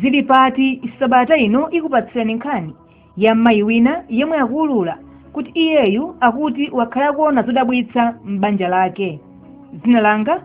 Zili pati sabata ino ikupatsirani nkhani ya mayi wina yemwe akuulula kuti iyeyu akuti wakhala akuona zodabwitsa m'banja lake. Dzina langa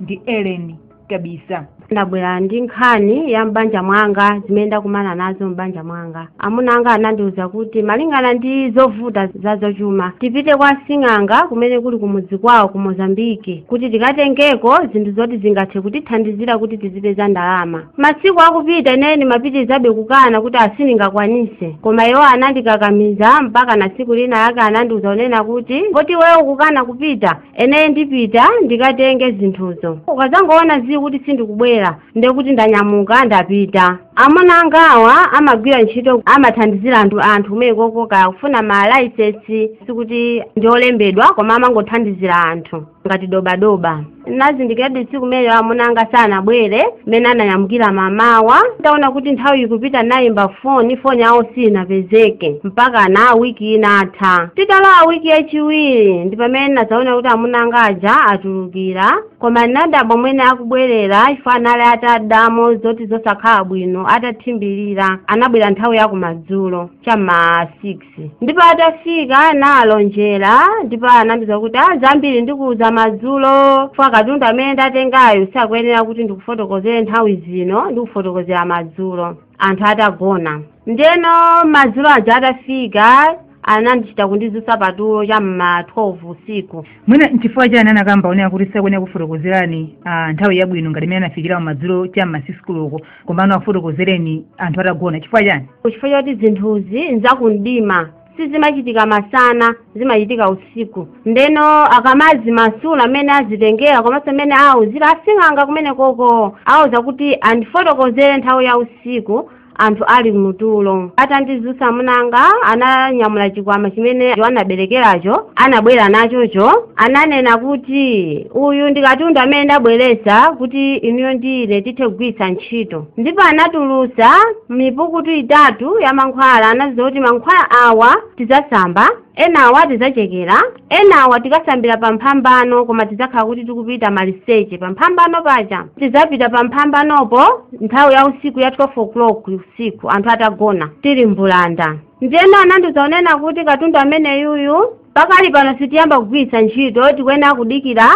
ndi Ellen Kabisa. ndabwera ndi nkhani ya m'banja mwanga zimene ndakumana nazo m'banja mwanga Amuna anga anandiuza kuti malingana ndi zovuta zazachuma, tipite kwa asing'anga kumene kuli kumudzi kwawo ku Mozambique kuti tikatengeko zinthu zoti zingathe kutithandizira kuti tizipeza ndalama. Masiku akupita ineyo ndimapitirizabe kukana kuti ah sindingakwanise. Koma iwo anandikakamiza mpakana tsiku lina lake anandiuza kunena kuti poti iweyo ukukana kupita, ineyo ndipita ndikatenge zinthuzo. Ukadzangoona zii kuti sindikubwera, ndiye kuti ndanyamuka ndapita. Amuna angawa amagwira ntchito amathandizira anthu kumene kokoka kufuna ma license sikuti ndi olembedwa koma amangothandizira anthu ngati dobadoba nazindikiradi tsiku limene amuna anga sanabwere mmene ananyamukira mamawa nditaona kuti nthawi ikupita nayimba foni foni yawo sinapezeke mpaka na wiki inatha titalowa wiki yachiwiri ndi pamene nazaona kuti amuna anga aja atulukira koma ndinadabwa mmene akubwerera iwo anali atada mwa zoti zosakhala bwino atathimbirira anabwera nthawi ya kumadzulo cha mma 6 ndipo atafika nawalonjera ndipo anandiuza kuti ah zambiri ndikuuza madzulo chifukwa katundu amene ndatengayo sakuyenera kuti ndikufotokozere nthawi zino ndikufotokozera madzulo anthu atagona ndeno madzulo aja atafika anandichita kundizusa patulo cha mma 12 usiku mwina nchifukwa chani anakamba kunena kuti sakuyenera kukufotokozerani ah, nthawi yabwino ngati mmene anafikira madzulo cha mma 6 koloko komano akufotokozereni anthu atagona chifukwa chani nchifukwa choti zinthuzi nzakumdima sizimachitika masana zimachitika usiku ndeno akamazimasula mmene azitengera komanso mmene awauzira asing'anga kumene koko awauza kuti andifotokozere nthawi ya usiku anthu ali mtulo atandizusa amuna anga ananyamula chikwama chimene anaberekeracho anabwera nachocho ananena kuti uyu ndi katundu amene ndabweresa kuti inuyo ndine tithe kugwiritsa ntchito ndipo anatulutsa mipukutu itatu ya mankhwala anandiuza kuti mankhwala awa tidzasamba enawa tidzachekera enawa tikasambira pa mphambano koma tidzakhala kuti tikupita maliseche pa mphambano paja tidzapita pa mphambanopo nthawi ya usiku ya 12 o'clock usiku anthu atagona tili mbulanda ndiyeno anandiuza kunena kuti katundu ameneyuyu pakali pano sitiyamba kugwiritsa ntchito tikuyenera kudikira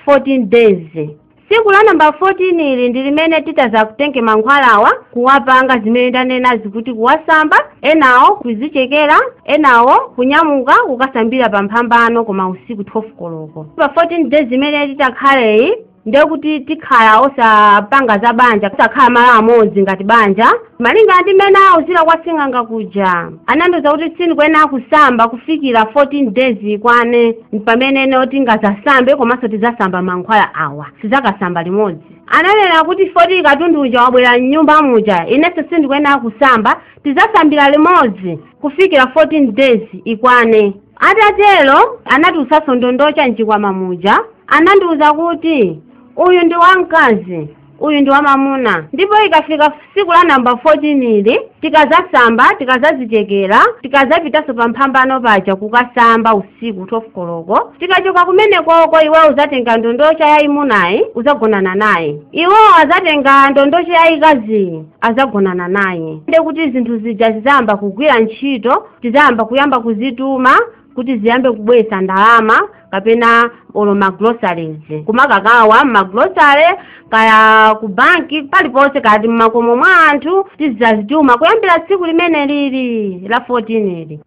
14 days tsiku la namba 14 ili ndi limene titazakutenge mankhwalawa kuwapanga zimene ndanenazi kuti kuwasamba enawo kuzichekera enawo kunyamuka kukasambira pa mphambano koma usiku 12 koloko pa 14 days imene titakhaleyi ndekuti tikhala osapanga za banja osakhala malo amodzi ngati banja Malinga ndi mmene awuzira kwa sing'anga kuja, anandiuza kuti sindikuyenera kusamba kufikira 14 days ikwane pamene ineyo tingadzasambe komanso tidzasamba mankhwala awa, tidzakasamba limodzi. Ananena kuti poti katundu uja wabwera m'nyumba muja, inenso sindikuyenera kusamba, tidzasambira limodzi kufikira 14 days ikwane. Atatero, anatulutsanso ndondocha m'chikwama muja. Anandiuza kuti, Uyu ndi wamkazi. uyu ndi wamamuna ndipo ikafika siku la namba 14 ili tikazasamba tikazazichekera tikazapitanso pa mphambano paja kukasamba usiku 12 koloko tikachoka kumenekoko iweyo uzatenga ndondocha yayimunayi uzagonana naye iwowo azatenga ndondocha yayikaziyi azagonana naye nde kuti zinthu zija zizayamba kugwira ntchito tizayamba kuyamba kuzituma kuti ziyambe kubweretsa ndalama kapena olo magroceries kumakakaba mmagrocery kaya ku banki paliponse kaya mmakomo mwa anthu tizazituma kuyambira tsiku limene lili la 14 ili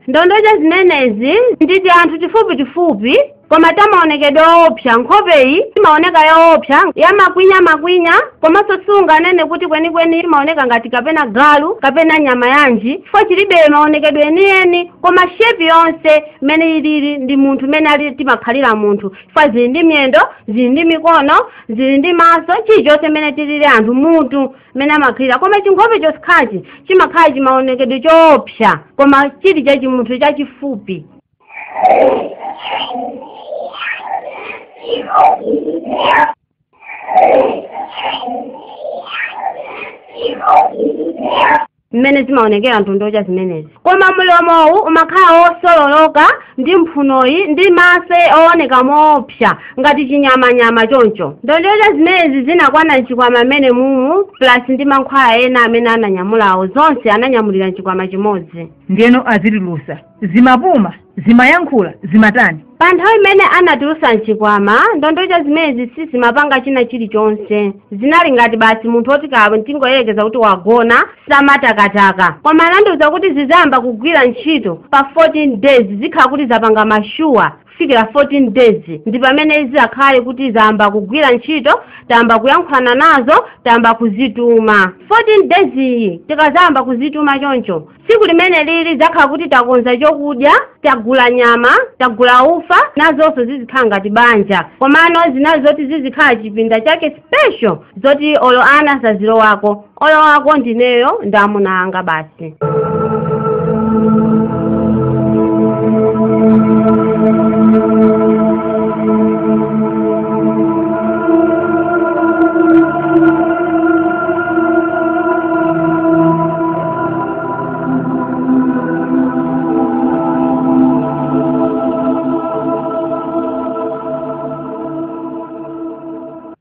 ndondocha zimenezi nditi anthu tifupi tifupi koma ta maonekedwe oopsa nkhopeyi imaoneka yoopsa yamakwinya-makwinya komanso sunganene kuti kwenikweni imaoneka ngati kapena galu kapena nyama yanji chifukwa chilibe maonekedwe enieni koma shepi yonse mmene ilili ndi munthu mmene ali timakhalira munthu chifukwa zili ndi miyendo zili ndi mikono zili ndi maso chilichonse mmene tilili anthu mutu mmene amakhalira koma chinkhope chokhachi chimakhala chimaonekedwe choopsa koma chili chachimunthu chachifupi mmene zimaonekera ndondocha zimenezi koma mlomowu umakhala wosololoka ndi mphunoyi ndi maso ooneka moopsa ngati chinyamanyama choncho ndondocha zimenezi zinakwana mchikwama mmene mumu plus ndi mankhwala ena amene ananyamulawo zonse ananyamulira mchikwama chimodzi ndiyeno azitulutsa zimapuma zimayankhula zimatani pa nthawi imene anazitulusa mchikwama ndondocha zimenezi sizimapanga china chilichonse zinali ngati basi munthu oti kaya tingoyerekeza kuti wagona samatakataka koma anandiuza kuti zizayamba kugwira ntchito pa 14 days zikhala kuti zapanga mashuwa kufikira 14 days ndi pamene zizakhale kuti zayamba kugwira ntchito tayamba kuyankhulana nazo tayamba kuzituma 14 days iyi tikazayamba kuzituma choncho tsiku limeneli lidzakhala kuti takonza chokudya tagula nyama tagula ufa nazonso zizikhala ngati banja komano zinali zoti zizikhala chipinda chake special zoti olo ana sazilowako olowako ndineyo ndi amuna anga basi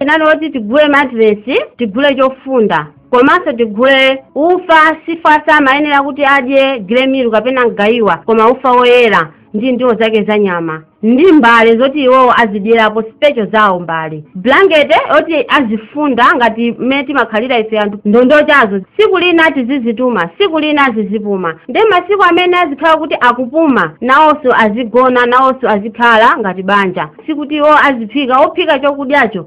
inali yoti tigule matiresi tigule chofunda komanso tigule ufa chifa samayenera kuti adye gremilu kapena mgayiwa koma ufa woyera ndi ndiwo zake za nyama ndi mbale zoti iwo azidyerapo special zawo mbale blankete yoti azifunda ngati mmene timakhalira ife anthu ndondochazo tsiku lina tizizituma tsiku lina azizipuma ndi masiku amene azikhala kuti akupuma nawonso azigona nawonso azikhala ngati banja sikuti iwo aziphika ophika chokudyacho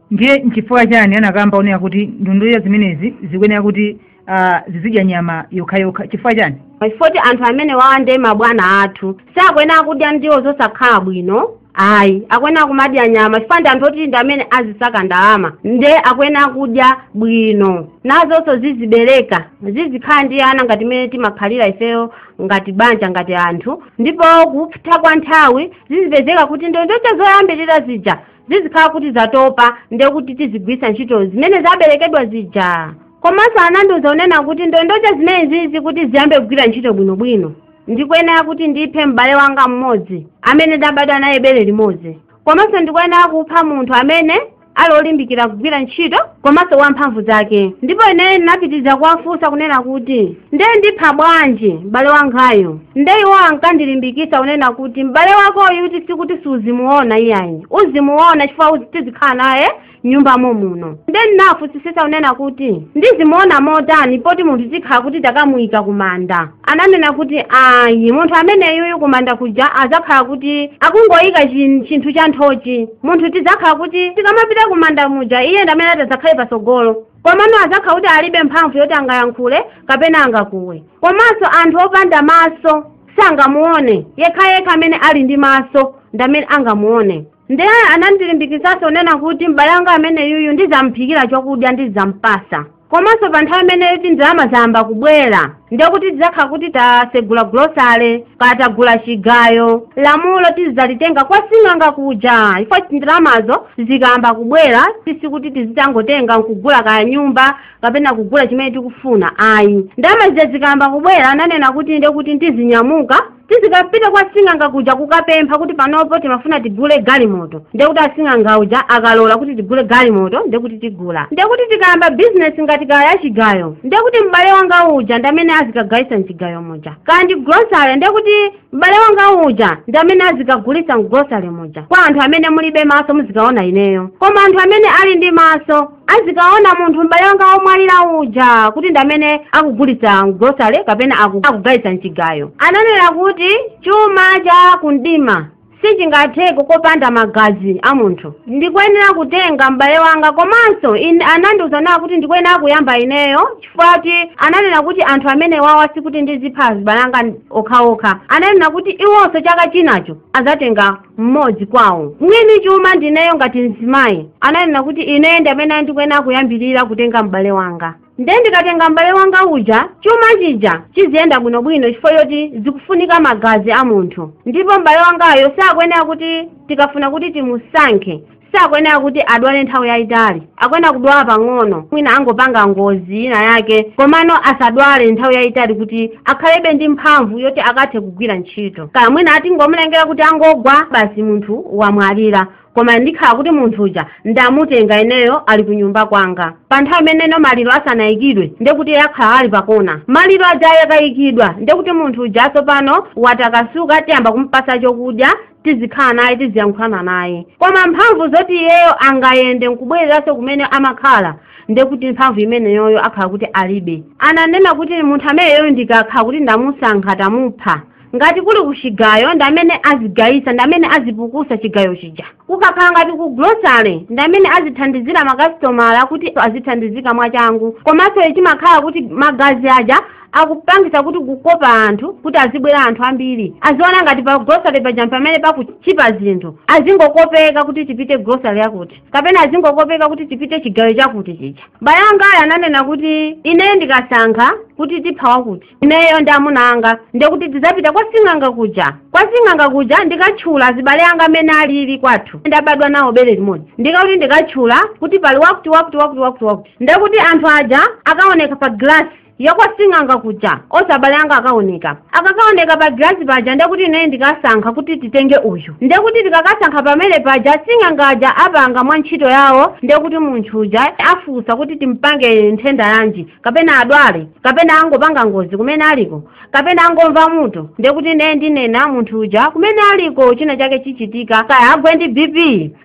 ndiye nchifukwa chani anakamba kunena kuti ndondocha zimenezi zikuyenera kuti ah, zizidya nyama yokhayokha chifukwa chani chifoti anthu amenewawa ndi mabwana athu sakuyenera kudya ndiwo zosakhala bwino ayi akuyenera kumadya nyama chifukwa ndi anthu oti ndi amene azisaka ndalama nde akuyenera kudya bwino nazonso zizibereka zizikhala ndi ana ngati mmene timakhalira ifeyo ngati banja ngati anthu ndipo kupita kwa nthawi zizipezeka kuti ndondocha zoyambirira zija zizikhala kuti zatopa ndiye kuti tizigwiritsa ntchito zimene zaberekedwa zija komanso anandiuza kunena kuti ndondocha zimenezizi kuti ziyambe kugwira ntchito bwinobwino ndikuyenera kuti ndiphe m'bale wanga mmodzi amene ndabadwa naye bere limodzi komanso ndikuyenera kupha munthu amene ali olimbikira kugwira ntchito komanso wamphamvu zake ndipo ineyo ndinapitiriza kuwafunsa kunena kuti ndiye ndipha bwanji m'bale wangayu nde iwo ankandilimbikitsa kunena kuti m'bale wakoyu kuti sikuti siuzimuona iyayi uzimuona chifukwa uzi- tizikhala naye mnyumba momuno nde ndinawafunsisisa kunena kuti ndizimuona motani poti munthu tikhala kuti takamuyika kumanda ananena kuti ayi munthu ameneyuyu kumanda kuja azakhala kuti akungoyika chin- chinthu cha nthochi munthu tizakhala kuti tikamapita kumanda muja iye ndamene atazakhale patsogolo Komano adzakhala kuti alibe mphamvu yoti angayankhule kapena angakuwe. Komanso anthu opanda maso sangamuone, yekhayekha amene ali ndi maso ndi amene angamuone. Ndiye anandilimbikitsanso kunena kuti m'bale wanga ameneyuyu ndidzamuphikira chakudya ndidzampasa. Komanso pa nthawi imene yoti ndalama zayamba kubwera, ndiye kuti tidzakhala kuti tasegula gulosale kaya tagula chigayo lamulo tizikalitenga kwa sing'anga kuja ifeyo ndalamazo zikayamba kubwera sikuti tizitangotenga nkugula kaya nyumba kapena kugula chimene tikufuna ayi ndalama zija zikayamba kubwera ananena kuti ndiye kuti tizinyamuka tizikapita kwa sing'anga kuja kukapempha kuti panopo timafuna tigule galimoto ndiye kuti asing'anga uja akalola kuti tigule galimoto ndiye kuti tigula ndiye kuti tikayamba bizinesi ngati kaya ya chigayo ndiye kuti m'bale wanga uja ndi amene azikagayisa mchigayo muja kaya ndi gulosale ndiye kuti m'bale wanga uja ndi amene azikagulisa mgulosale muja kwa anthu amene mulibe maso muzikaona ineyo koma anthu amene ali ndi maso azikaona munthu m'bale wanga womwalira uja kuti ndi amene akugulitsa mgulosale kapena aku- akugayitsa mchigayo ananena kuti chuma cha kumdima sichingatheke kopanda magazi a munthu ndikuyenera kutenga m'bale wanga komanso anandiuzanso kuti ndikuyenera kuyamba ineyo chifukwa kuti ananena kuti anthu amenewawa sikuti ndizipha azibale anga okhaokha ananena kuti iwonso chaka chinacho azatenga mmodzi kwawo mwini chuma ndineyo ngati mzimayi ananena kuti ineyo ndi amene ndikuyenera kuyambirira kutenga m'bale wanga nde ndikatenga m'bale wanga uja chuma chija chiziyenda bwinobwino chifukwa choti zikufunika magazi a munthu ndipo m'bale wangayo sakuyenera kuti tikafuna kuti timusankhe sakuyenera kuti adwale nthawi yayitali akuyenera kudwala pang'ono mwina angopanga ngozi ina yake komano asadwale nthawi yayitali kuti akhalebe ndi mphamvu yoti akathe kugwira ntchito kaya mwina tingomulengera kuti angogwa basi munthu wamwalira koma ndikhala kuti munthu uja ndamutenga ineyo ali ku nyumba kwanga pa nthawi imeneno maliro asanayikidwe ndekuti iye akhala ali pakona maliro aja akayikidwa ndekuti munthu uja tsopano watakasuka tiyamba kumpasa chokudya tizikhala naye tiziyankhulana naye koma mphamvu zoti iyeyo angayende nkubwereranso kumene amakhala nde kuti mphamvu imeneyoyo akhala kuti alibe ananena kuti munthu ameneyoyo ndikakhala kuti ndamusankha tamupha ngati kuli kuchigayo ndi amene azigayisa ndi amene azipukusa chigayo chija kukakhala ngati ku gulosale ndi amene azithandizira makasitomala kuti azithandizika mwachangu komanso chimakhala kuti magazi aja akupangisa kuti kukopa anthu kuti azibwera anthu ambiri aziona ngati pa grocery paja pamene pakuchipa zinthu azingokopeka kuti tipite grocery yakuti kapena azingokopeka kuti tipite chigayo chakuti chija bayangawo ananena kuti ineyo ndikasankha kuti tipha wakuti ineyo ndi amuna anga ndekuti tidzapita kwa sing'anga kuja kwa sing'anga kuja ndikatchula azibale anga amene alili kwathu ndabadwa nawo bere limodzi ndikakuti ndikatchula kuti pali wakuti wakuti wakuti wakuti wakuti ndekuti anthu aja akaoneka pa glass ya kwa sing'anga kuja onse abale anga akaoneka akakaoneka pa gilasi paja ndekuti ine ndikasankha kuti titenge uyu ndekuti tikakasankha pamene paja asing'anga aja apanga mwa ntchito yawo ndekuti munthu uja afunsa kuti timpange nthenda yanji kapena adwale kapena angopanga ngozi kumene aliko kapena angomva mutu ndiye kuti ineyo ndinena munthu uja kumene aliko china chake chichitika kaya agwe ndi bp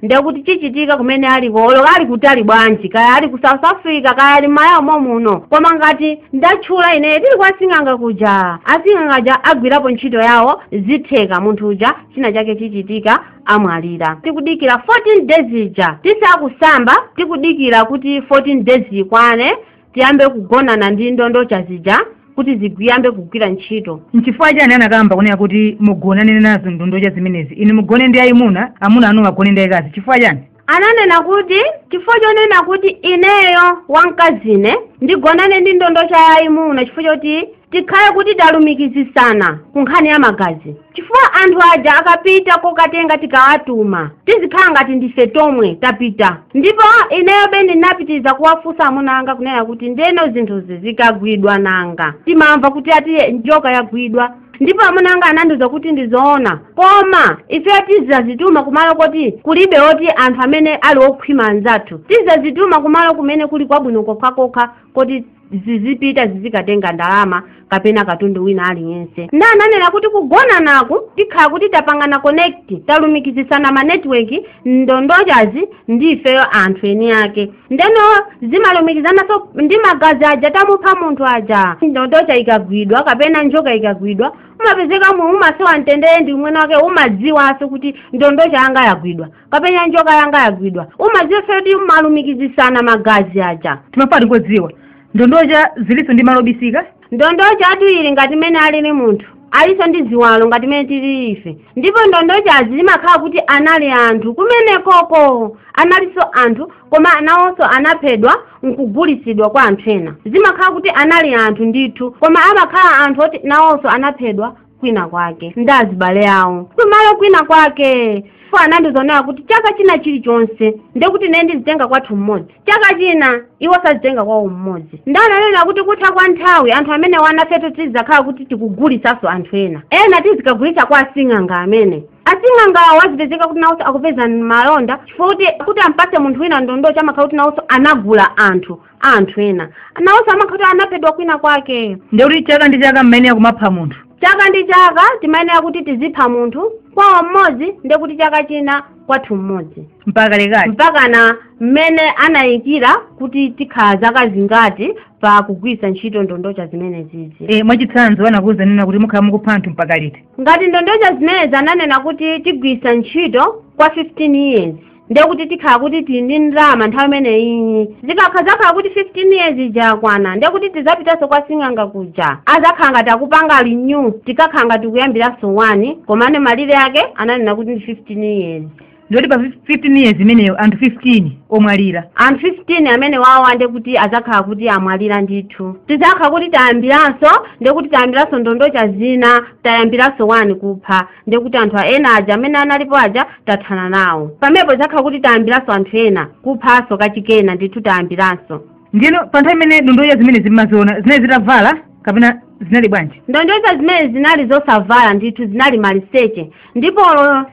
ndiye kuti chichitika kumene aliko olo ali kutali bwanji kaya ali ku south africa kaya ali mmalawi momuno koma ngati ndatchula ine tili kwa sing'anga kuja asing'anga aja agwirapo ntchito yawo zitheka munthu uja china chake chichitika amwalira tikudikira 14 days ija tisakusamba tikudikira kuti 14 days ikwane tiyambe kugonana ndi ndondocha zija kuti zigwiyambe kugwira ntchito nchifukwa chani anakamba kunena kuti mugonane nazo ndondocha zimenezi inu mugone ndi ayimuna amuna anu agone ndi ayikazi chifukwa chani ananena kuti chifukwa chonena kuti ineyo wamkazine ndigonane ndi ndondocha yayimuna chifukwa choti tikhale kuti talumikizisana ku nkhani ya magazi chifukwa anthu aja akapita kokatenga tikawatuma tizikhala ngati ndife tomwe tapita ndipo ineyo bebe ndinapitiliza kuwafunsa amuna anga kunena kuti ndeno zinthuzi zikagwidwa nanga timamva kuti ati njoka yagwidwa ndipo amuna anga anandiuza kuti ndizoona koma ifeyo tizazituma kumalo koti kulibe oti anthu amene ali okhwima anzathu tizazituma kumalo kumene kuli kwabwino kokhakokha kuti zizipita zizikatenga ndalama kapena katundu wina aliyense nde ananena kuti kugonanaku tikhala kuti tapangana connect talumikizisana ma network ndondochazi ndi ifeyo anthu eni ake ndeno zimalumikizananso ndi magazi aja tamupha munthu aja ndondocha ikagwidwa kapena njoka ikagwidwa umapezeka mu umasowa mtendere ndi umwene wake umadziwanso kuti ndondocha yanga yagwidwa kapena njoka yanga yagwidwa umadziwa kuti umalumikizisana magazi aja timafuna kudziwa ndondocha zilinso ndi malo obisika ndondocha ati ili ngati mene alili munthu alinso ndi ziwalo ngati mene tili ife ndipo ndondochazi zimakhala kuti anali anthu kumenekoko analinso anthu koma nawonso anaphedwa nkugulitsidwa kwa anthu ena zimakhala kuti anali anthu ndithu koma amakhala anthu oti nawonso anaphedwa kwina kwake ndi azibale awo kumalo kwina kwake iwo anandiuza onena kuti chaka china chilichonse ndekuti ine ndizitenga kwathu mmodzi chaka china iwoso azitenga kwawo mmodzi nde ananena kuti kutha kwa nthawi anthu amene wa anafewo tizakhala kuti tikugulisanso anthu ena ena tizikagulitsa kwa asing'anga amene asing'angawo azipezeka kuti nawonso akupeza malonda chifukwa kuti kuti ampase munthu wina ndondocha amakhala kuti nawonso anagula anthu a anthu ena nawonso amakhala kuti anaphedwa kwina kwake ndiye kuti chaka ndi chaka mmayenera kumapha munthu chaka ndi chaka timayenera kuti tizipha munthu kwawo mmodzi ndiye kuti chaka china kwathu mmodzi mpaka kalekale mpakana mmene anayikira kuti tikhala zaka zingati pa kugwiritsa ntchito ndondocha zimenezizi e, mwachitsanzo anakuwuzani kuti mukhala mukupha anthu mpaka liti ngati ndondocha zimenezi ananena kuti tigwiritsa ntchito kwa 15 years ndiye kuti tikhala kuti tili ndi ndalama nthawi imeneyi zikazakhala kuti 15 years ija yakwana ndiye kuti tizapitanso kwa sing'anga kuja azakhala ngati akupanga renew tikakhala ngati kuyambiranso 1 komane malire ake ananena kuti ndi 15 years ndiye kuti pa 15 years imeneyo anthu 15 omwalira anthu 15 amene wawa ndiye kuti azakhala kuti amwalira ndithu tizakhala kuti tayambiranso ndiye kuti tayambiranso ndondocha zina tayambiranso 1 kupha ndiye kuti anthu ena aja amene analipo aja tathana nawo pamenepo tizakhala kuti tayambiranso anthu ena kuphanso kachikenanso ndithu tayambiranso ndiyeno pa nthawi imene ndondocha zimenezi mumaziona zinali zitavala kapena zinali bwanji ndondocha zimenezi zinali zosavala ndithu zinali maliseche ndipo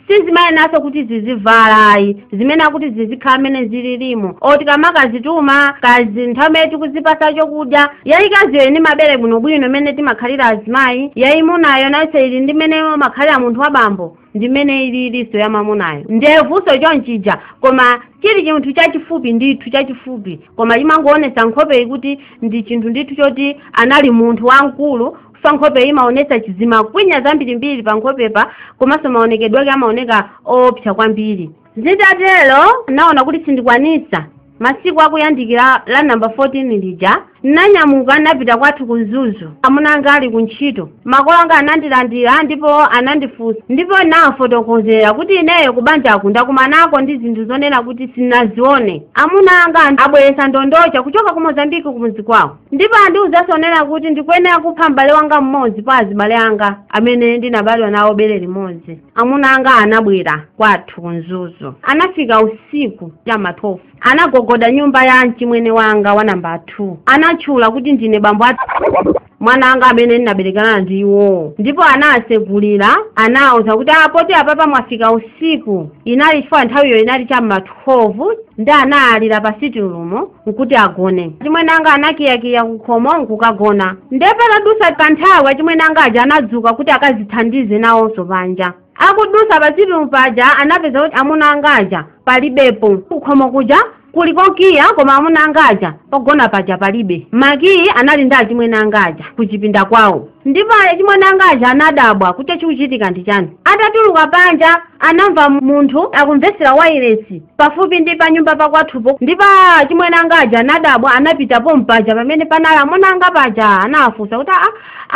sizimayeneranso kuti zizivala ayi zimayenera kuti zizikhala mmene zililimo oti tikamakazituma kaya nthawi imene tikuzipasa chokudya Yayikaziyo ili ndi mabere bwinobwino mmene timakhalira azimayi, yayimunayo nayonso ili ndi mmene umakhalira munthu wa bambo ndi mmene ililinso ya mwamunayo. Ndevuso chonchija koma chili chinthu chachifupi ndithu chachifupi koma chimangoonetsa nkhopeyi kuti ndi chinthu ndithu choti anali munthu wamkulu chifukwa nkhopeyi imaonetsa zimakwinya zambirimbiri pa nkhopepa komanso maonekedwe ake amaoneka oopsa kwambiri. Zitatero ndinaona kuti sindikwanitsa masiku akuyandikira la namba 14 lija ndinanyamuka ndinapita kwathu ku Mzuzu amuna anga ali ku ntchito makolo anga anandilandira ndipo anandifunsa ndipo ndinawafotokozera kuti ineyo ku banjaku ndakumanako ndi zinthu zonena kuti sindinazione amuna anga abweretsa ndondocha kuchoka ku Mozambiki kumudzi kwawo ndipo andiwuza zonena kuti ndikuyenera kupha m'bale wanga mmodzi pa azibale anga amene ndinabadwa nawo bere limodzi amuna anga anabwera kwathu ku mzuzu anafika usiku cha ma 12 anagogoda nyumba ya mchimwene wanga wa namba 2 anatchula kuti ndine bambo a mwana anga amene ndinaberekana ndi iwowo ndipo anawatsegulira anawuza kuti a poti apapa mwafika usiku inali chifukwa nthawiyo inali cha ma 12 ndiye anayalira pa sitting room nkuti agone achimwene anga anakiyakiya kukhomo nkukagona nde patadusa kanthawi achimwene anga aja anadzuka kuti akazithandize nawonso panja akudusa pa sitting room paja anapeza kuti amuna anga aja palibepo kukhomo kuja kuli kokiya koma amuna anga aja pogona paja palibe makiyi anali ndi achimwene anga aja kuchipinda kwawo Ndipo achimwene anga aja anadabwa kuti chikuchitika ndi chani. Atatuluka panja anamva munthu akumvetsera wailesi pafupi ndi panyumba pakwathupo ndipo achimwene anga aja anadabwa anapita pompaja pamene panali amuna anga paja anawafunsa kuti aa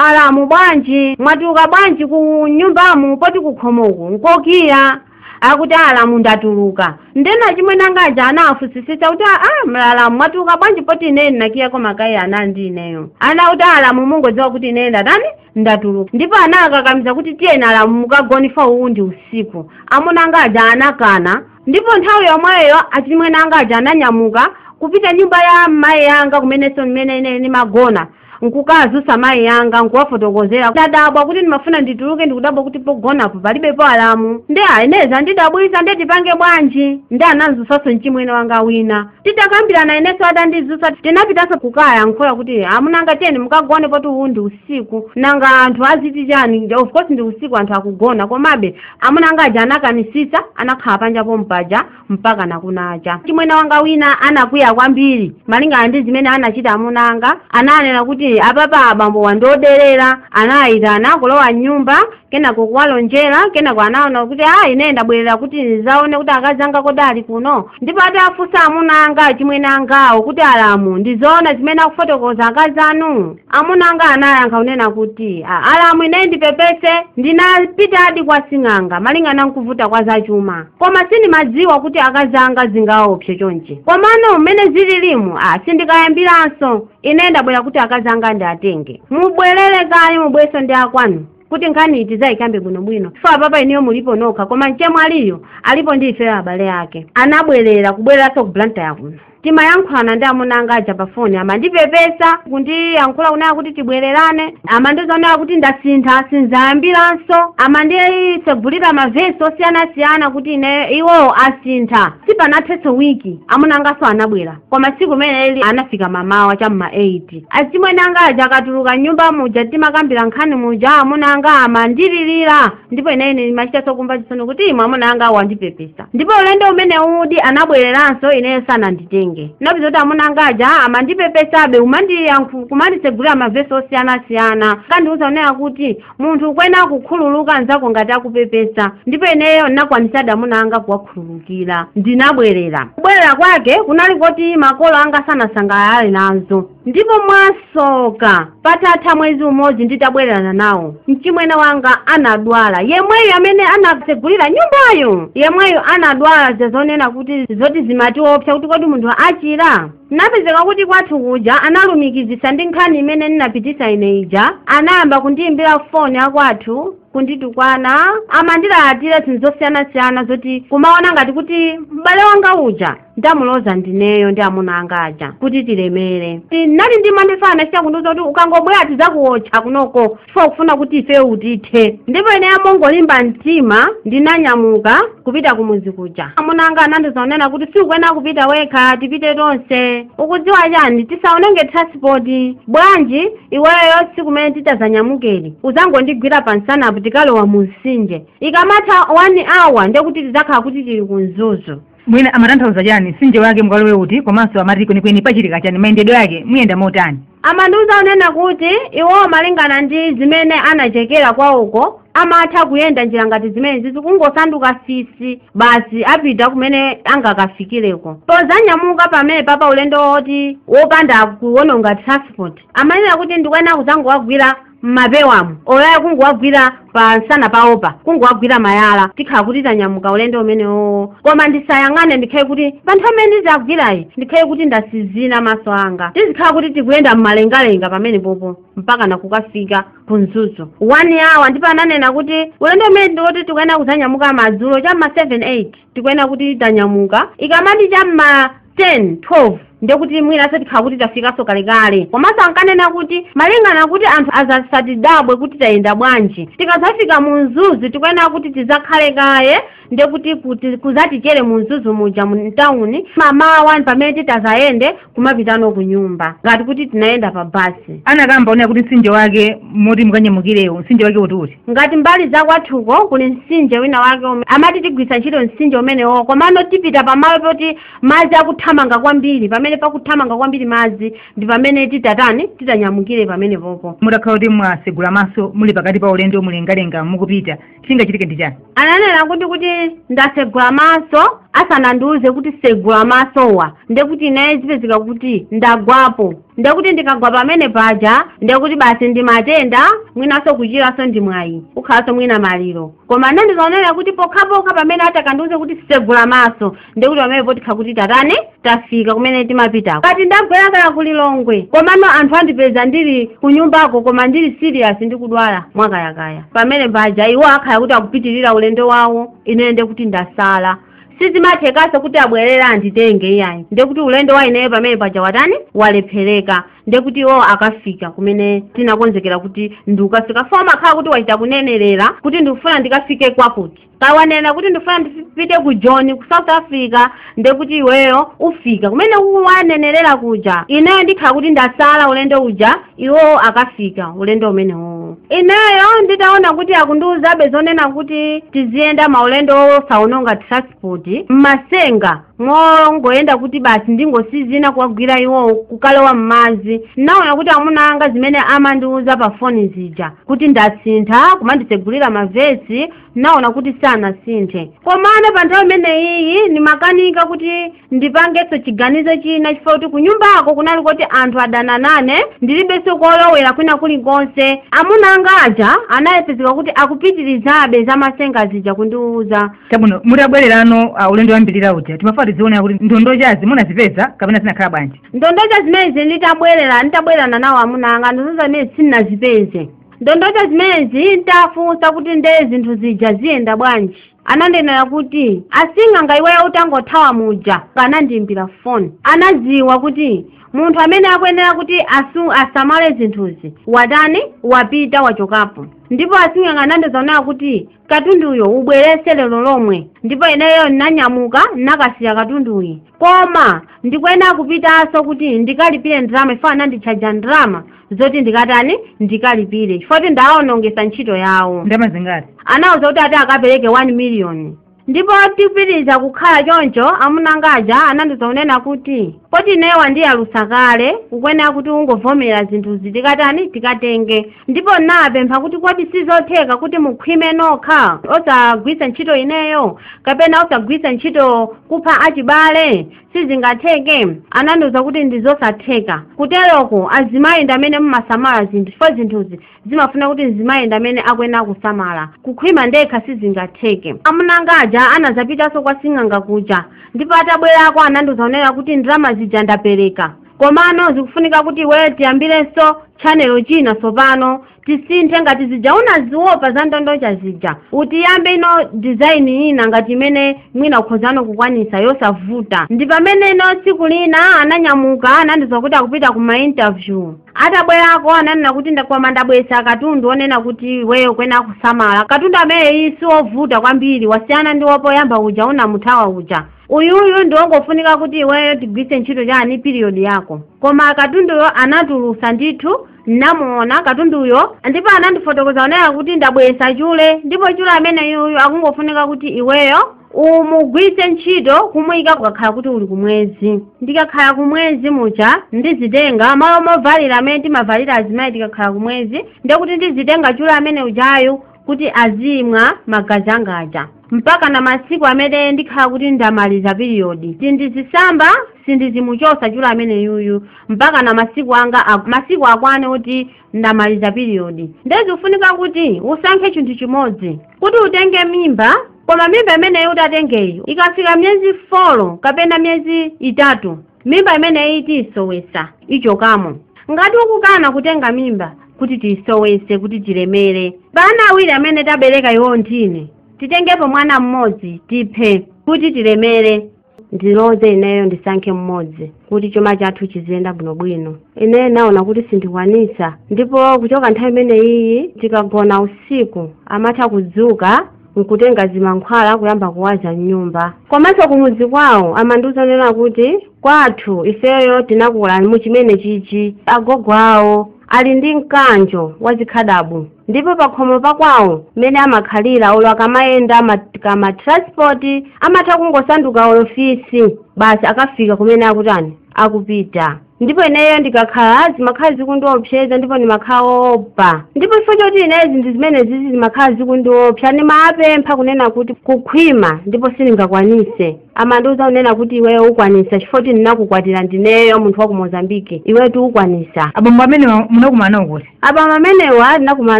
alamu bwanji mwatuluka bwanji mnyumbamu poti kukhomoko nkokiya. akuti alamu ndatuluka nde achimwene anga aja anawafunsisisa kuti aa alamu mwatuluka bwanji poti ine ndinakiyako makiyi ali ndi ineyo anati alamu mungodziwa kuti ine ndatani ndatuluka ndipo anawakakamiza kuti tiyeni alamu mukagone ifa uwu ndi usiku amuna anga aja anakana ndipo nthawi yomweyo achimwene anga aja ananyamuka kupita mnyumba ya mayi anga kumenenso mmene ine ndimagona nkukawazutsa mayi anga nkuwafotokozera ndadabwa kuti ndimafuna ndituluke ndikudabwa kuti pogonapo palibepo alamu nde ine zandidabwisa nde tipange bwanji nde anamzutsanso mchimwene wanga wina titakambirana ineso atandizutsa tinapitanso kukayankhula kuti amuna anga tiyeni mukagone poti uwu ndi usiku nanga anthu aziti chani of course ndi usiku anthu akugona komabe amuna anga aja anakanisitsa anakhala panja pompaja mpakana kunacha chimwene wanga wina anakwiya kwambiri malingana ndi zimene anachita amuna anga ananena kuti apapa abambo wandiderera anawayitana kulowa mnyumba kenako kuwalonjera kenako anaona kuti a ine ndabwerera kuti ndizaone kuti akazi anga kodi ali kuno ndipo atawafunsa amuna anga achimwene angawo kuti alamu ndizoona zimene akufotokoza akazi anu amuna anga anayankha kunena kuti "A- alamu ine ndipepese ndinapitadi kwa sing'anga malingana nkuvuta kwa zachuma koma sindimadziwa kuti akazi anga zingawaopse chonchi komano mmene zililimu a sindikayambiranso ine ndabwera kuti akazi anga ndiwatenge mubwerere kaye mubwerenso ndi akwanu kuti nkhaniyi tizayikambe bwinobwino ifa apapa inuyo mulipo nokha koma mchemwaliyu alipo ndi ifeyo abale ake anabwerera kubwereranso ku blantyre kuno timayankhulana ndi amuna anga aja pa foni amandipepesa kundiyankhula kunena kuti tibwererane amandiuza kunena kuti ndasintha sinzayambiranso amandisegulira mavesi osiyanasiyana kuti ine iwowo asintha sipanathenso wiki amuna anganso anabwera koma tsiku limeneli anafika mamawa cha m'ma 8 achimwene anga aja akatuluka mnyumba muja timakambira nkhani ija amuna anga amandililira ndipo ine ndimachitanso kumva chisoni kuti imwe amuna anga wandipepesa ndipo ulendo umeneudi anabwereranso ineyo sananditenge napeza kuti amuna anga aja amandipepesabe umandiyankhu kumanditsegulira mavesi osiyanasiyana kandiuza kunena kuti munthu ukuyenera kukhululuka anzako ngati akupepesa ndipo ineyo ndinakwanisadi amuna anga kuwakhululukira ndinabwerera kubwerera kwake kunali koti makolo anga sanasangalale nazo ndipo mwasoka patatha mwezi umodzi nditabwererana nawo mchimwene wanga anadwala yemweyo amene anatsegulira mnyumbayo yemweyo anadwala zazonena kuti zoti zimatiopsa kuti kodi munthu achira Napezeka kuti kwathu kuja analumikizitsa ndi nkhani imene ndinapitisa ine ija, anayamba kundiyimbira foni akwathu kunditukwana amandilalatira zinthu zosiyanasiyana zoti kumaona ngati kuti m'bale wanga uja ndamuloza ndineyo ndi amuna anga aja kuti tilemere Inati ndimanifala anachita kundiuza kuti ukangobwera tizakuwotcha kunoko chifukwa akufuna kuti ife utithe ndipo ineyo mongolimba mtima ndinanyamuka kupita kumudzi kuja amuna anga anandiuza kunena kuti sikuyenera kupita wekha tipite tonse ukudziwa chani tisaononge transport bwanji iweyo tsiku limene titazanyamukeli uzangondigwira pa msanapo tikalowa mu mtsinje ikamatha one hour ndekuti tidzakhala kuti tili ku mzuzu mmene amatanthauza chani mtsinje wake mukalowe uti komanso amati kwenikweni pachitika chani mayendedwe ake muyenda motani amandiuza kunena kuti iwowo malingana ndi zimene anachekera kwawoko amatha kuyenda njira ngati zimene zizi kungosanduka fisi basi apita kumene angakafikireko pozanyamuka pamene papa ulendo woti wopanda kuwononga transport amanena kuti ndikuyenera kuzangowagwira m'mapewamu olo ayi kungowagwira pa msana pawopa kungowagwira malaya tikhala kuti tanyamuka ulendo umenewowo koma ndisayang'ane ndikhale kuti pa nthawi imene ndizawagwireyi ndikhale kuti ndatsinzina maso anga tizikhala kuti tikuyenda m'malengalenga pamene popo mpaka nakukafika ku mzuzu one hour ndipo ananena kuti ulendo umene ndiwoti tikuyenera kudzanyamuka madzulo cha ma 7 8 tikuyenera kuti tanyamuka ikamati cha mma 10 12 ndekuti mwinaso tikhala kuti tafikaso kalekale komanso ankanena kuti malingana kuti anthu azasatidabwe kuti tayenda bwanji tikazafika mu mzuzu tikuyenera kuti tizakhale kaye ndekuti kuzatichere mu mzuzu muja mu mtawuni mamawa pamene titazayende kumapitano ku nyumba ngati kuti tinayenda pa basi anakamba wonena kuti mtsinje wake moti mukanyamukirewo mtsinje wake utiuti ngati mbali za kwathuko kuli mtsinje wina wake ume- amati tigwiritsa ntchito mtsinje umenewo komano tipita pamalo poti madzi akuthamanga kwambiri pamene pakuthamanga kwambiri madzi ndi pamene titatani titanyamukire pamene popo mutakhala kuti mwasegula maso muli pakati pa ulendo mulengalenga mukupita chingachitike ndi chani ananena kuti kuti ndasegula maso asanandiuze kuti segula masowa ndekuti ineyo zipezeka kuti ndagwapo ndekuti ndikagwa pamene paja ndekuti basi ndi matenda mwinanso kuchiranso ndi mwayi kukhalanso mwina maliro koma anandiuza onena kuti pokhapokha pamene atakandiuze kuti segula maso ndekuti pamene potikha kuti tatani tafika kumene timapitako kati ndagwera kaya ku lilongwe komano anthu andipeza ndili kunyumbako koma ndili serious ndikudwala mwakayakaya pamene paja iwo akhala kuti akupitirira ulendo wawo ineyo ndekuti ndasala sizimathekanso kuti abwerera anditenge iyayi ndekuti ulendo wa ineyo pamene paja watani walephereka ndekuti iwo akafika kumene tinakonzekera kuti ndikukafika chifukwa umakhala kuti wachita kunenerera kuti ndikufuna ndikafike kwakuti kaya wanena kuti ndifuna ndipite ku joni ku south africa ndekuti iweyo ufika kumene wanenerera kuja ineyo ndikhala kuti ndasala ulendo uja iwowo akafika ulendo umenewo ineyo nditaona kuti akundiuzabe zonena kuti tiziyenda maulendo oosaononga transport mmasenga mongoyenda kuti basi ndingotsinzina kuwagwira iwo kukalowa m'madzi naona kuti amuna anga zimene amandiwuza pa foni zija kuti ndasintha kumanditsegulira mavesi naona kuti sanasinthe komano pa nthawi imeneyiyi ndimakanika kuti ndipangenso chiganizo china chifukwa kuti kunyumbako kunali kuti anthu adana nane ndilibenso kolowera kwina kulikonse amuna anga aja anadzapezeka kuti akupitirizabe zamasenga zija kundiwuza chabwino mutabwererano ulendo wachiwiri uja timafuna tidziwe kuti ndondochazi munazipeza kapena zinakhala bwanji ndondocha zimenezi nditabwererana nawo amuna anga ndondocha zimenezi sinazipeze ndondocha zimenezi nditafunsa kuti nde zinthu zija ziyenda bwanji anandinenera kuti asing'anga iweyo utangothawa muja anandiimbira foni anadziwa kuti munthu amene akuyenera kuti asamale zinthuzi watani wapita wachokapo ndipo asing'anga anandiuza zonena kuti katunduyo ubweretse lero lomwe ndipo ineyo ndinanyamuka nakasiya katunduyi koma ndikuyenera kupitanso kuti ndikalipire ndalama chifukwa ananditchaja ndalama zoti ndikatani ndikalipire chifukwa kuti ndawonongesa ntchito yawo ndalama zingati anawuza kuti ati akapereke 1 million ndipo tikupitiriza kukhala choncho amuna angaja anandiuza zonena kuti poti ineyo wandiyalusa kale ukuyenera kuti ungovomera zinthuzi tikatani tikatenge ndipo napempha kuti kodi sizotheka kuti mukhwime nokha osagwiritsa ntchito ineyo kapena osagwiritsa ntchito kupha achibale sizingatheke anandiuza kuti ndi zosatheka kuteroko azimayi ndi amene mumasamala zinthu chifukwa zinthuzi zimafuna kuti mzimayi ndi amene akuyenera kusamala kukhwima ndekha sizingatheke amunanga aja anazapitanso kwa sing'anga kuja ndipo atabwerako anandiuza zonena kuti ndalama zija ndapereka komano zikufunika kuti iweyo tiyambirenso tchanelo china tsopano tisinthe ngati zija unaziopa za ndondocha zija tiyambe ino dizaini ina ngati imene mwina ukhozano kukwanisa yosavuta ndi pamene ino tsiku lina ananyamuka anandiuza kuti akupita ku mainterview atabwerako ananena kuti koma ndabweretsa katundu onena kuti iweyo ukuyenera kusamala katundu ameneyi si wovuta kwambiri wasiyana ndi wopoyamba uja unamuthawa uja uyuyu ndi wongofunika kuti iweyo tigwise ntchito chani period yako koma katunduyo anatulusa ndithu namuona katunduyo ndipo anandifotokoza kunena kuti ndabwesa chule ndipo chule amene yuyu akungofunika kuti iweyo umugwise ntchito kumuyika kukakhala kuti uli kumwezi ndikakhala kumwezi muja ndizitenga malo movalira amene timavalira azimayi tikakhala kumwezi ndekuti ndizitenga chule amene ujayu kuti azimwa magazi anga aja mpaka na masiku amene ndikhala kuti ndamaliza piriyodi sindizisamba sindizimuchosa chule amene yuyu mpaka na masiku anga ak- masiku akwane kuti ndamaliza piriyodi ndezikufunika kuti usankhe chinthu chimodzi kuti utenge mimba koma mimba imeneyi utatengeyo ikafika miyezi 4 kapena miyezi itatu mimba imeneyi tiyisowesa ichokamo ngati ukukana kutenga mimba kuti tiyisowese kuti tilemere pa ana awiri amene tabereka iwo ndine titengepo mwana mmodzi tiphe kuti tilemere ndiloze ineyo ndisankhe mmodzi kuti chuma chathu chiziyenda bwinobwino ineyo naona kuti sindikwanisa ndipo kuchoka nthawi imeneyiyi tikagona usiku amatha kudzuka n'kutenga zimankhwala kuyamba kuwaza m'nyumba komanso kumudzi kwawo amandiuza kunena kuti kwathu ifeyo tinakula mu chimene chichi agogo awo ali ndi mkanjo wa zikhadabu ndipo pakhomo pakwawo mmene amakhalira olo akamayenda ma- kama transport amatha kungosanduka olo fisi basi akafika kumene akutani akupita ndipo ineyo ndikakhala zimakhala zikundiopseza ndipo ndimakhala woopa ndipo chifukwa choti ineyo zinthu zimene zizi zimakhala zikundiopsa ndimapempha kunena kuti kukhwima ndipo sindingakwanise amandiuza kunena kuti iweyo ukwanisa chifukwa choti ndinakukwatira ndineyo munthu wa ku mozambike iweyo tiukwanisa abambo amenewa munakumana nawo kuti abambo amenewa ndinakumana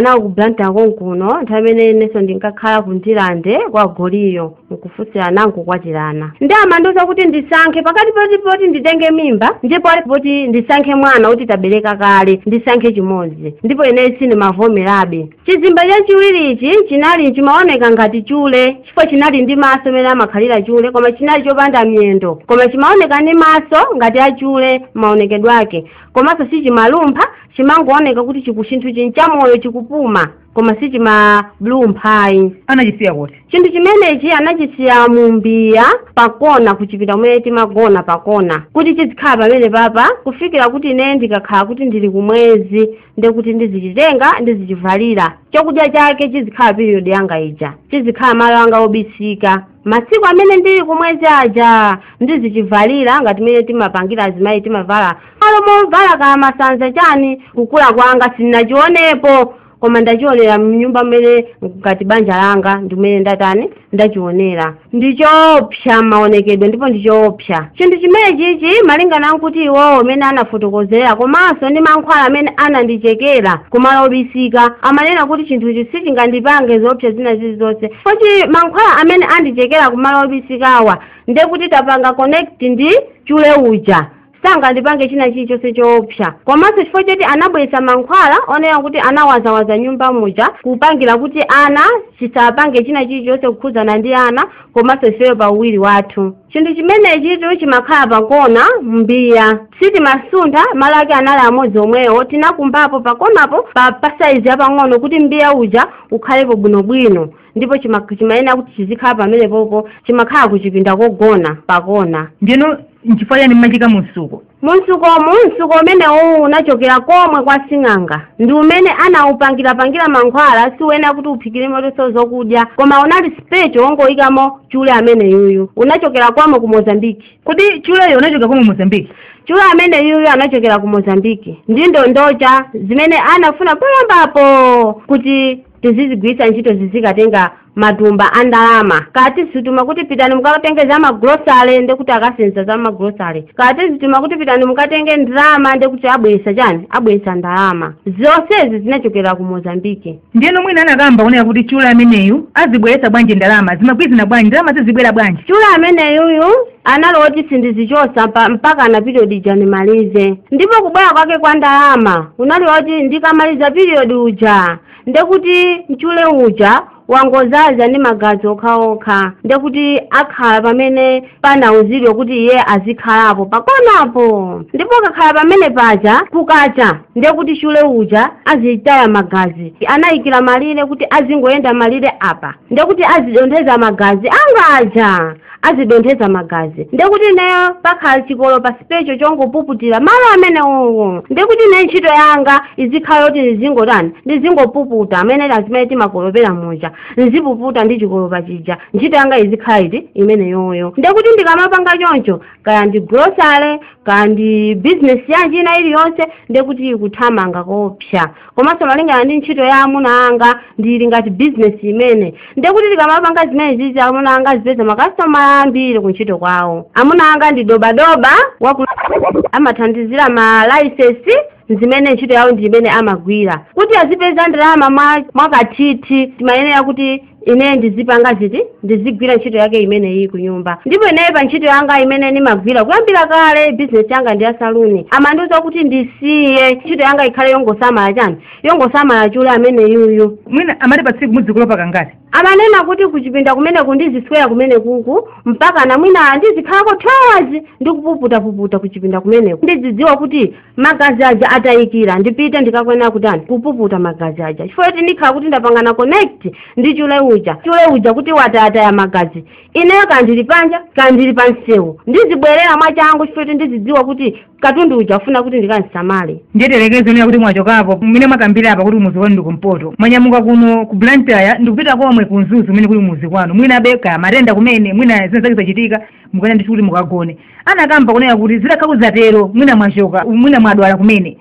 nawo ku blantyre konkuno nthawi imene inenso ndinkakhala ku ndilande kwa goliyo nkufunsirana nkukwatirana nde amandiuza kuti ndisankhe pakati poti poti nditenge mimba ndipo poti ndisankhe mwana kuti tabereka kale ndisankhe chimodzi ndipo ineyo sindimavomerabe chizimba chachiwirichi chinali chimaoneka ngati chule chifukwa chinali ndi maso mmene amakhalira chule koma chinali chopanda miyendo koma chimaoneka ndi maso ngati achule maonekedwe ake komanso sichimalumpha chimangooneka kuti chinthuchi ndi chamoyo chikupuma koma sichimalumpha ayi anachisiya kuti chinthu chimenechi anachisiya mu mbiya pakona kuchipinda kumene timagona pakona kuti chizikhala pamene papa kufikira kuti ine ndikakhala kuti ndili kumwezi ndi kuti ndizichitenga ndizichivalira chakudya chake chizikhala period yanga ija chizikhala malo anga obisika masiku amene ndili kumwezi aja ndizichivalira ngati mene timapangira azimayi timavala malo movala kaya masanza chani kukula kwanga sindinachionepo koma ndachionera mnyumba mmene ngati banja langa ndimene ndatani ndachionera ndichoopsa maonekedwe ndipo ndichoopsa chinthu chimenechichi malingana nkuti iwowo amene anafotokozera komanso ndi mankhwala amene anandichekera kumalo obisika amanena kuti chinthuchi sichingandipange zoopsa zina zilizonse Chifukwa choti mankhwala amene andichekera kumalo obisikawa ndekuti tapanga connect ndi chule uja sangandipange china chilichonse choopsa komanso chifukwa choti anabweretsa mankhwala onena kuti anawazawaza mnyumba muja kupangira kuti ana chisapange china chilichonse kukhudzana ndi ana komanso ifeyo pa uwiri wathu chinthu chimenechitu chimakhala pakona mbiya sitimasuntha malo ake anali amodzi omwewo tinakumbapo pakonapo pa pasaizi yapang'ono kuti mbiya uja ukhalepo bwinobwino ndipo chimayenera kuti chizikhala pamenepopo chimakhala kuchipinda kogona pakona ndino nchifukwa chani mmachiika mumsuko Mumtsuko, mtsuko umenewuwu unachokera komwe kwa sing'anga ndi umene anawupangira-pangira mankhwala si woyenera kuti uphikirimotonso zokudya koma unali special wongoyikamo chule ameneyuyu. Unachokera komwe ku Mozambique. Kodi chuleyo unachokera komwe Mozambique? Chule ameneyuyu anachokera ku Mozambique ndi ndondocha zimene anafuna poyambapo kuti tizizigwiritsa ntchito zizikatenga matumba a ndalama kaya tizituma kuti pitani mukatenge za magulosale ndekuti akasenza za magulosale kaya tizituma kuti pitani mukatenge ndalama ndekuti abweresa chani abweresa ndalama zonsezi zinachokera ku mozambike ndiyeno mwina anakamba kunena kuti chule ameneyu azibweretsa bwanji ndalama zimagwirizana bwanji ndalama zizibwera bwanji chule ameneyuyu anali woti sindizichosa mpakana piriyodi ija nimalize ndipo kubwera kwake kwa ndalama kunali koti ndikamaliza piriyodi uja ndekuti chule uja wangozaza ndi magazi okhaokha ndekuti akhala pamene panauzidwa kuti iye azikhalapo pakonapo ndipo akakhala pamene paja kukacha ndekuti chule uja azitaya magazi anayikira malire kuti azingoyenda malire apa ndekuti azidontheza magazi anga aja azidonthetsa magazi ndekuti ineyo pakhala chikolopa sipecho chongopuputira malo amenewowo ndekuti ine ntchito yanga izikhala kuti ndizingotani ndizingopuputa mmene azimayi timakolopera muja nzipuputa ndi chikolopa chija ntchito yanga izikhala iti imeneyoyo ndekuti ndikamapanga choncho kaya ndi grocery kaya ndi business yanji ina iliyonse ndekuti ikuthamanga koopsa komanso malingana ndi ntchito ya amuna anga ndili ngati bizinesi imene ndikuti tikamapanga zimenezizi amuna anga azipeza makasitomala ambiri ku ntchito kwawo amuna anga ndi dobadoba amathandizira ma laisensi zimene ntchito yawo ndi imene amagwira kuti azipeza ndalama mwakathithi timayenera kuti ine ndizipanga ziti ndizigwira ntchito yake imeneyi ku nyumba ndipo ineyo pa ntchito yanga imene ndimagwira kuyambira kale bizinesi yanga ndi ya saluni amandiuza kuti ndisiye ntchito yanga ikhale yongosamala chiyani yongosamala chule ameneyuyu mwina amati pa tsiku mudzikolopa kangati amanena kuti kuchipinda kumeneku ndiziswera kumeneku mpaka na mwina ndizikhalako 2 hours ndikupuputapuputa kuchipinda kumeneku ndidzidziwa kuti magazi aja atayikira ndipite ndikayenera kutani kupuputa magazi aja chifukwa kuti ndikhala kuti ndapangana connect ndi chule uja chule uja kuti watayataya magazi ineyo kaya ndili panja kaya ndili pa msewu ndizibwerera mwachangu chifukwa kuti ndizidziwa kuti katundu uja afuna kuti ndikamusamale ndiye tiyerekeze kunena kuti mwachokapo mmene mwakambira apa kuti kumudzi kwanu ndi kumpoto mwanyamuka kuno ku blantyre ndikupita komwe ku mzuzu kumene kuli kumudzi kwanu mwina be kaya matenda kumene mwina zina zake zachitika mukuyenera ndithu kuti mukagone anakamba kunena kuti zitakhala kuti zatero mwina mwachoka mwina mwadwala kumene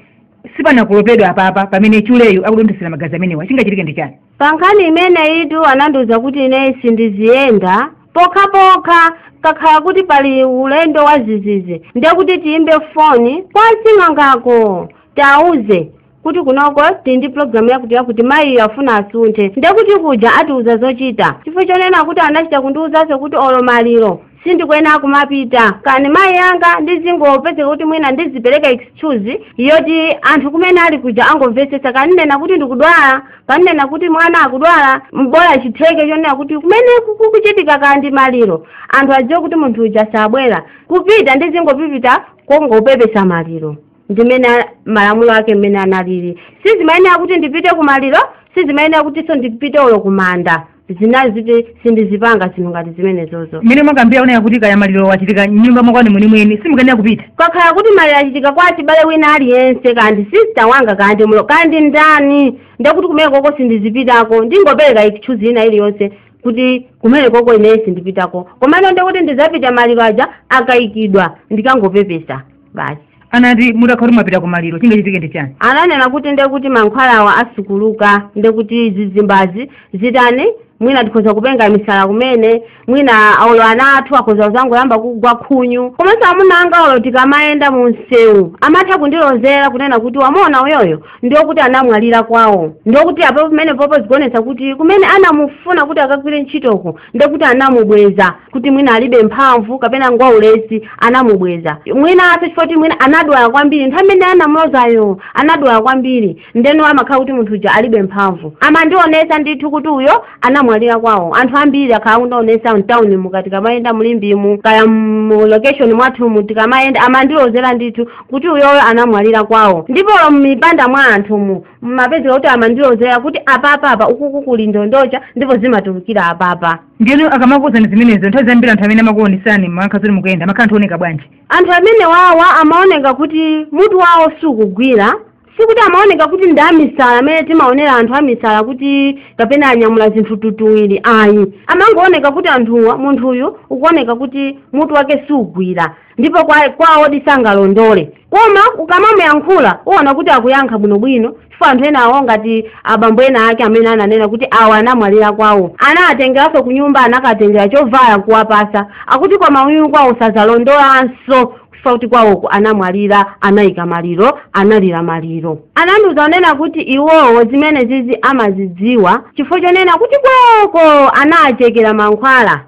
sipanakolopedwe apapa pamene chuleyo akudonthesera magazi amenewa chingachitike ndi chani pa nkhani imeneyitu anandiuza kuti ineyo sindiziyenda pokhapokha kukakhala kuti pali ulendo wa dzidzidzi ndiye kuti tiyimbe foni kwa sing'angako tiwauze kuti kunoko tili ndi pulogalamu yakuti yakuti mayiyo afuna asunthe ndekuti kuja atiuza zochita chifukwa chonena kuti anachita kundiuzanso kuti olo maliro sindikuyenera kumapita kaya ndi mayi anga ndizingopezeka kuti mwina ndizipereka excuse yoti anthu kumene ali kuja angomvetsetsa kaya ndinena kuti ndikudwala kaya ndinena kuti mwana akudwala bola chitheke chonena kuti kumene kukuchitika kaya ndi maliro anthu adziwe kuti munthu uja sabwera kupita ndizingopita kongopepesa maliro ndimene a- malamulo ake mmene analili sizimayenera kuti ndipite kumaliro sizimayenera kutinso ndipite olo kumanda zina ziti sindizipanga zinthu ngati zimenezozo mmene mwakambira kunena kuti kaya maliro achitika mnyumba mwakwanu mwenimweni simukuyenera kupita kukakhala kuti maliro achitika kwa wachibale wina aliyense kaya ndi sista wanga kaya ndi mulo kaya ndi ndani ndekuti kumenekoko sindizipitako ndingopereka excuse ina iliyonse kuti kumenekoko ineyo sindipitako komano ndekuti ndizapita maliro aja akayikidwa ndikangopepesa basi anati mutakhala kuti mwapita kumaliro chingachitike ndi chani ananena kuti nde kuti mankhwalawa asukuluka nde kuti zizimbazi zitani mwina tikhoza kupenga misala kumene mwina olo ana athu akhoza kuzangoyamba kugwa khunyu komanso amuna anga olo tikamayenda mu msewu amatha kundilozera kunena kuti wamuona uyoyo ndiokuti anamwalira kwawo ndiokuti apo pamenepopo zikuonetsa kuti kumene anamufuna kuti akagwire ntchitoko ndekuti anamubweza kuti mwina alibe mphamvu kapena ngwaulesi anamubweza mwina chifukwa choti mwina anadwala kwambiri nthawi imene anamulozayo anadwala kwambiri ndeno amakhala kuti munthu uja alibe mphamvu amandionesa ndithu kuti uyo anamwalira kwawo anthu ambiri akhala akundionesa mtawuni muka tikamayenda mulimbimu kaya mu location mwathumu tikamayenda amandilozera ndithu kuti uyoyo anamwalira kwawo ndipo mipanda mwa anthumu mumapezeka kuti amandilozera kuti apapa apa ukuku kuli ndondocha ndipo zimatulukira apapa ndiyeno akamakuwuzani zimenezo nthawi zambiri anthu amene amakuonesani mwakhala zoti mukuyenda amakhala anthu ooneka bwanji anthu amene wawa amaoneka kuti mutu wawo sukugwira sikuti amaoneka kuti ndi amisala amene timaonera anthu amisala kuti kapena anyamula zinthu tutuwiri ayi amangooneka kuti anthuwa munthuyu ukuoneka kuti mutu wake sugwira ndipo kwawodi sangalondole koma ukamamuyankhula uona kuti akuyankha bwinobwino chifukwa anthu enawo ngati abambo ena ake amene ananena kuti awa anamwalira kwawo anawatengeranso ku nyumba anakatengera chovala nkuwapasa akuti koma uyu kwawo sazalondolanso kufa kuti kwawoko anamwalira anayika maliro analira maliro anandiuza kunena kuti iwowo zimene zizi amazidziwa chifukwa chonena kuti kwawoko anawachekera mankhwala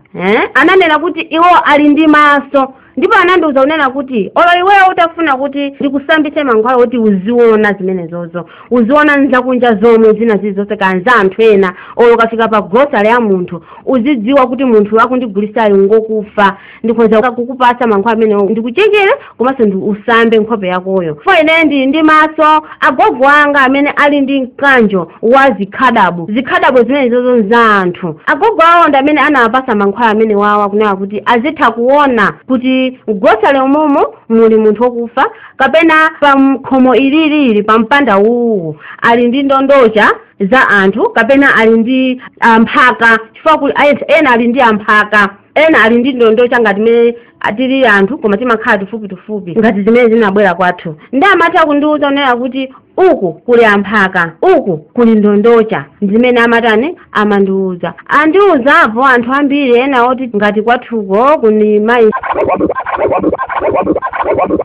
Ananena kuti iwo ali ndi maso ndipo anandiuza kunena kuti olo iweyo utafuna kuti ndikusambitse mankhwala oti uziona zimenezozo uziona nzakunja zomwe zina zilizonse kanza anthu ena olo ukafika pa grocery ya munthu uzidziwa kuti munthu akundigulitsayo ngokufa ndikhoza kukupatsa mankhwala amenewo ndikuchekere komanso ndi usambe nkhope yakoyo chifukwa ine ndili ndi maso agogo anga amene ali ndi mkanjo wa zikhadabo zikhadabo zimenezozo nza anthu agogo awo ndi amene anawapasa mankhwala amene wawa kunena kuti azitha kuona kuti mgrocery umumu muli munthu wokufa kapena pa nkhomo ililili pa mpanda uwu ali ndi ndondocha za anthu kapena ali ndi amphaka chifukwa kuli ena ali ndi amphaka ena ali ndi ndondocha ngati mene tili anthu koma timakhala tafupi-tafupi ngati zimene zinabwera kwathu ndi amatha kundiwuza kunena kuti uku kuli amphaka uku kuli ndondocha ndimene amatani amandiwuza andiwuzapo anthu ambiri ena oti ngati kwathuko kuli mayi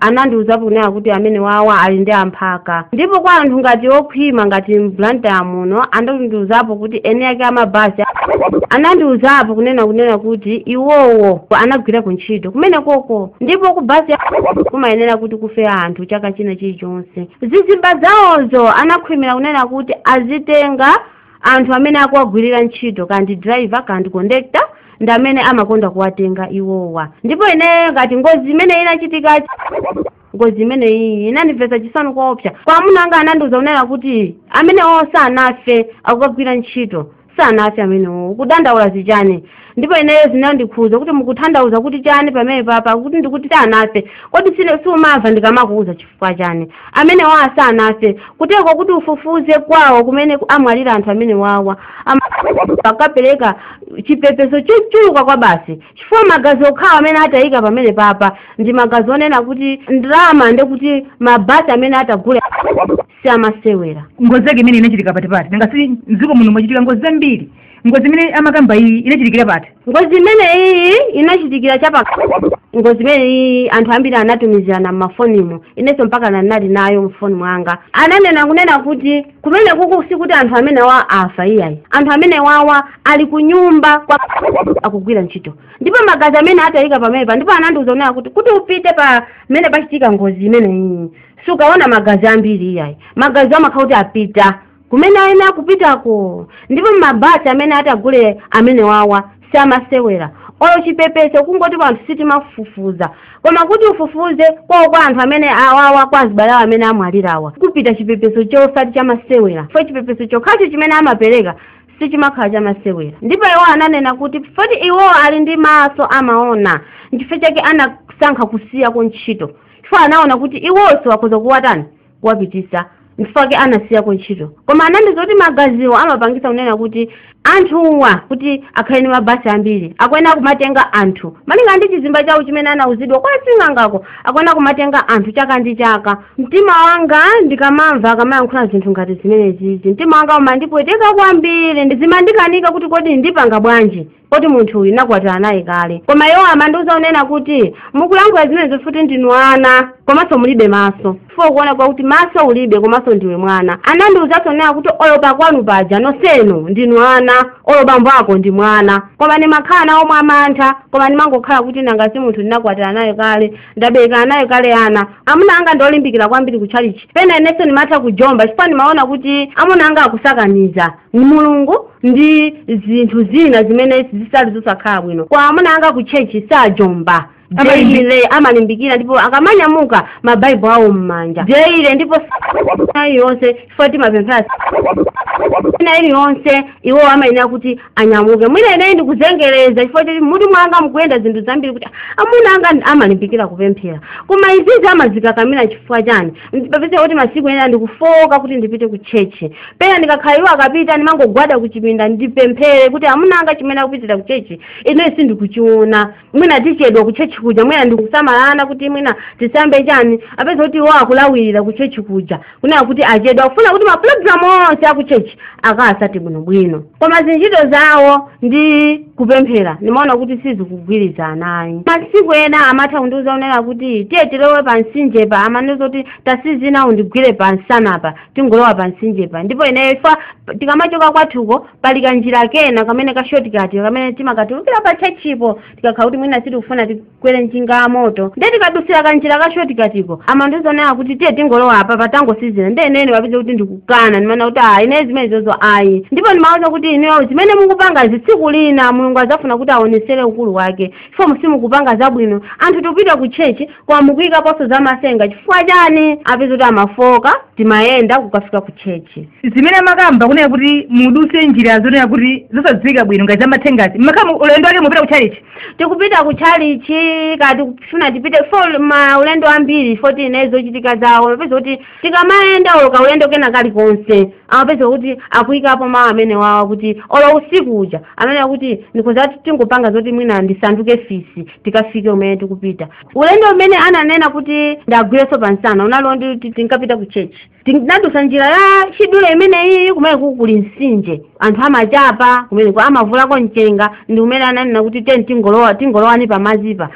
anandiwuzapo kunena kuti amene wawa ali ndi amphaka ndipo kwa anthu ngati okhwima ngati mBlantyre muno anandiuzapo kuti eni ake amabhasi anandiuzapo kunena kunena kuti iwowo anagwira ku ntchito kumene koko ndipo ku bhasi ya- kumayenera kuti kufe anthu chaka china chilichonse zizimba zawozo anakhwimira kunena kuti azitenga anthu amene akuwagwirira ntchito kandi driver kandi conductor ndi amene amakonda kuwatenga iwowa ndipo ine ngati ngozi imene inachitika ngozi imeneyi inandimvetsa chisoni koopsa koma amuna anga anandiuza kunena kuti amenewo sanafe akagwira ntchito sanafe amenewo ukudandaula zichani ndipo ineyo zinandikhuza kuti mukutanthauza kuti chani pamene papa kuti mukuti sanafe kodi siumamva ndikamakuuza chifukwa chani amenewawa sanafe kuteroko kuti ufufuze kwawo kumene amwalira anthu amene wawa akapereka chipepeso chochuluka kwabasi chifukwa magazi okhawo amene atayika pamene papa ndi magazi onena kuti ndalama nde kuti mabasi amene atagule si amasewera ngozi yake imene inachitika pati pati nanga si mdziko muno mwachitika ngozi zambiri ngozi imene amakamba iyi inachitikira pati ngozi imene iyi inachitikira chapa ngozi imene iyi anthu ambiri anatumizirana m'mafonimo inenso mpaka ndinali nayo mfoni mwanga ananena kunena kuti kumenekuku sikuti anthu amenewa afa iyayi anthu amenewawa ali kunyumba kwa akugwira ntchito ndipo magazi amene atayika pamenepa ndipo anandiuza kunena kuti kuti upite pamene pachitika ngozi imeneyi sukaona magazi ambiri iyayi magazi amakhala kuti apita kumene ayenera kupitako ndipo mabasi amene atagule amenewawa siamasewera olo chipepeso kungoti anthu sitimafufuza koma kuti ufufuze kwawo kwa anthu amenewawa kwa azibale awo amene amwalirawa kupita chipepeso chosati chamasewera fo chipepeso chokhacho chimene amapereka sichimakhala chamasewera ndipo iwo ananena kuti foti iwo ali ndi maso amaona nchifukwa chake anasankha kusiyako ntchito chifukwa anaona kuti iwonso akhoza kuwatani kuwapitisa nchifukwa chake anasiyako ntchito koma anandiuza kuti magaziwo amapangisa kunena kuti anthuwa kuti akhale ndi mabasi ambiri akuyenera kumatenga anthu malinga ndi chizimba chawo chimene anauzidwa kwa sing'angako akuyenera kumatenga anthu chaka ndi chaka mtima wanga ndikamamva akamayankhula zinthu ngati zimenezizi mtima wanga umandipweteka kwambiri zimandikanika kuti kodi ndipanga bwanji poti munthu uyu ndinakwatira naye kale koma iwo amandiuza unena kuti mukulankhula zimenezo foti ndinu ana komanso mulibe maso fo kuona kwakuti maso ulibe komanso ndiwe mwana anandiuzanso unena kuti olo pakwanu paja nonsenu ndinu ana olo bambo ako ndi mwana koma ndimakhala nawo mwa mantha koma ndimangokhala kuti nanga si munthu ndinakwatira naye kale ndabereka naye kale ana amuna anga ndiolimbikira kwambiri kutchalitchi pena inenso ndimatha kujomba chifukwa ndimaona kuti amuna anga akusakaniza Mulungu ndi zinthu zina zimene zisali zosakhala bwino koma amuna anga ku tchetchi sajomba deile amalimbikira ndipo akamanyamuka mabaibulo awo m'manja deile ndipo ina iliyonse chifukwa timapemphera ina iliyonse iwo amayenera kuti anyamuke mwina ineyi ndikuzengereza chifukwa choti m'mutu mwanga mukuyenda zinthu zambiri kuti amuna anga amalimbikira kupemphera koma izizi amazikakamira chifukwa chani ndi apeza kuti masiku ena ndikufooka kuti ndipite ku chechi pena ndikakhala iwo akapita ndimangogwada ku chipinda ndipemphere kuti amuna anga chimene akupitira ku chechi ine sindikuchiona mwina tichedwa ku chechi kuja mwina ndikusamalana kuti mwina tisambe chani apeza kuti iwo akufulumirira ku chechi kuja kunena kuti achedwa akufuna kuti mapulogalamu onse aku chechi akatsate bwinobwino koma zintchito zawo ndi kupemphera ndimaona kuti sizikugwirizana ayi masiku ena amatha kundiuza unena kuti tiye tilowe pa mtsinjepa amandiuza kuti tatsinzina undigwire pa msanapa tingolowa pa mtsinjepa ndipo ineyo ifo tikamachoka kwathuko pali kanjira kena kamene ka shortcut kamene timakatulukira pa tchetchipo tikakhala kuti mwina sitikufuna ti- kwere njinga ya moto ndiye tikadutsira kanjira ka shotikatiko amandiuza unena kuti tiye tingolowa apapa tangotsinzina ndiye ine ndi apeza kuti ndikukana ndimanena kuti ayi ine zimene izozo ayi ndipo ndimawuza kuti ineyo zimene mukupanga izi tsiku lina mulungu adzafuna kuti awonetsere ukulu wake chifukwa simukupanga zabwino anthu tikupita ku chechi koma mukuyikaponso za matsenga chifukwa chani apeza kuti amafooka timayenda kukafika ku chechi zimene mumakamba kunena kuti mudutse njira zonena kuti zosadziwika bwino ngati zamathengazi makamaka ulendo wake mupita ku chalichi tikupita ku chalichi kaya tikufuna tipite ifo maulendo ambiri ifo ine zochitika zawo amapeza kuti tikamayenda olo ka ulendo kena kalikonse amapeza kuti akuyikapo mawu amenewawa kuti olo usiku uja amanena kuti ndikhoza tingopanga zoti mwina ndisanduke fisi tikafike kumene tikupita ulendo umene ananena kuti ndiwagwirenso pansana unali woti tinkapita ku church tinadutsa njira ya chidule imeneyi kumene kuli mtsinje anthu amachapa kumeneko amavuulako mchenga ndi kumene ananena kuti tiye tingolowa tingolowani pamadzipa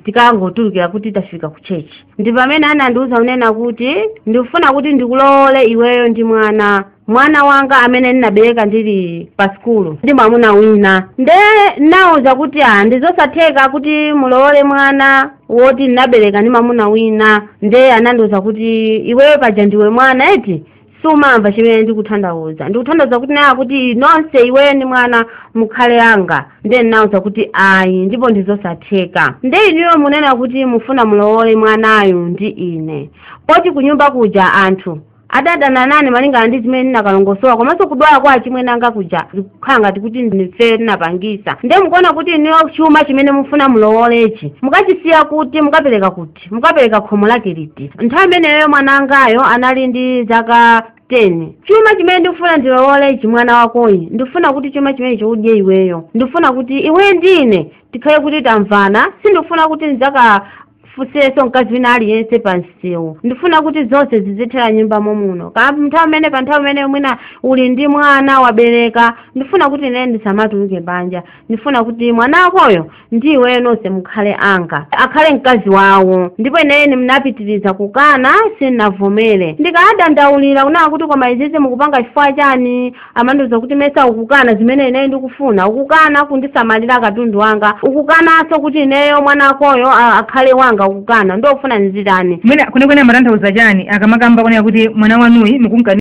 tikangotulukira kuti tafika ku chechi ndi pamene anandiwuza kunena kuti ndikufuna kuti ndikulowole iweyo ndi mwana mwana wanga amene ndinabereka ndili pa sikulu ndi mwamuna wina nde nawuza kuti a ndizosatheka kuti mulowole mwana woti ndinabereka ndi mamuna wina ndiye anandiwuza kuti iweyo paja ndiwe mwana eti sumamva chimene ndikutanthauza ndikutanthauza kuti nena kuti nonse iweyo ndi mwana mukhale anga ndiye ndinawuza kuti ayi ndipo ndizosatheka ndiye inuyo munena kuti mufuna mulowole mwanayu ndi ine poti kunyumba kuja anthu adadana nane malingana ndi zimene ndinakalongosola komanso kudwala kwa achimwene anga kuja zikukhala ngati kuti ndife tinapangisa nde mukuona kuti inuyo chuma chimene mufuna mulowolechi mukachisiya kuti mukapereka kuti mukapereka khomo lake liti nthawi imeneyo mwana wangayo anali ndi zaka 10 chuma chimene ndikufuna ndilowolechi mwana wakoyu ndikufuna kuti chuma chimenechi udye iweyo ndikufuna kuti iwe ndine tikhale kuti tamvana sindikufuna kuti ndidzaka fusenso mkazi wina aliyense pa msewu ndifuna kuti zonse zizithera m'nyumba momuno kaya nthawi imene pa nthawi imene mwina uli ndi mwana wabereka ndifuna kuti ine ndisamatuluke banja ndifuna kuti mwana wakoyo ndi iweyo nonse mukhale anga akhale mkazi wawo ndipo ineyo ndinapitiriza kukana sindinavomere ndikadandaulira kunena kuti koma izizi mukupanga chifukwa chani amandiuza kuti mesa ukukana zimene ineyo ndikufuna ukukana kundisamalira katundu wanga ukukananso kuti ineyo mwana wakoyo a- akhale wanga ukukana ndofuna ndizitani mwina kwenekwene amatanthauza chani akamakamba kunena kuti mwana wanuyi mukumkana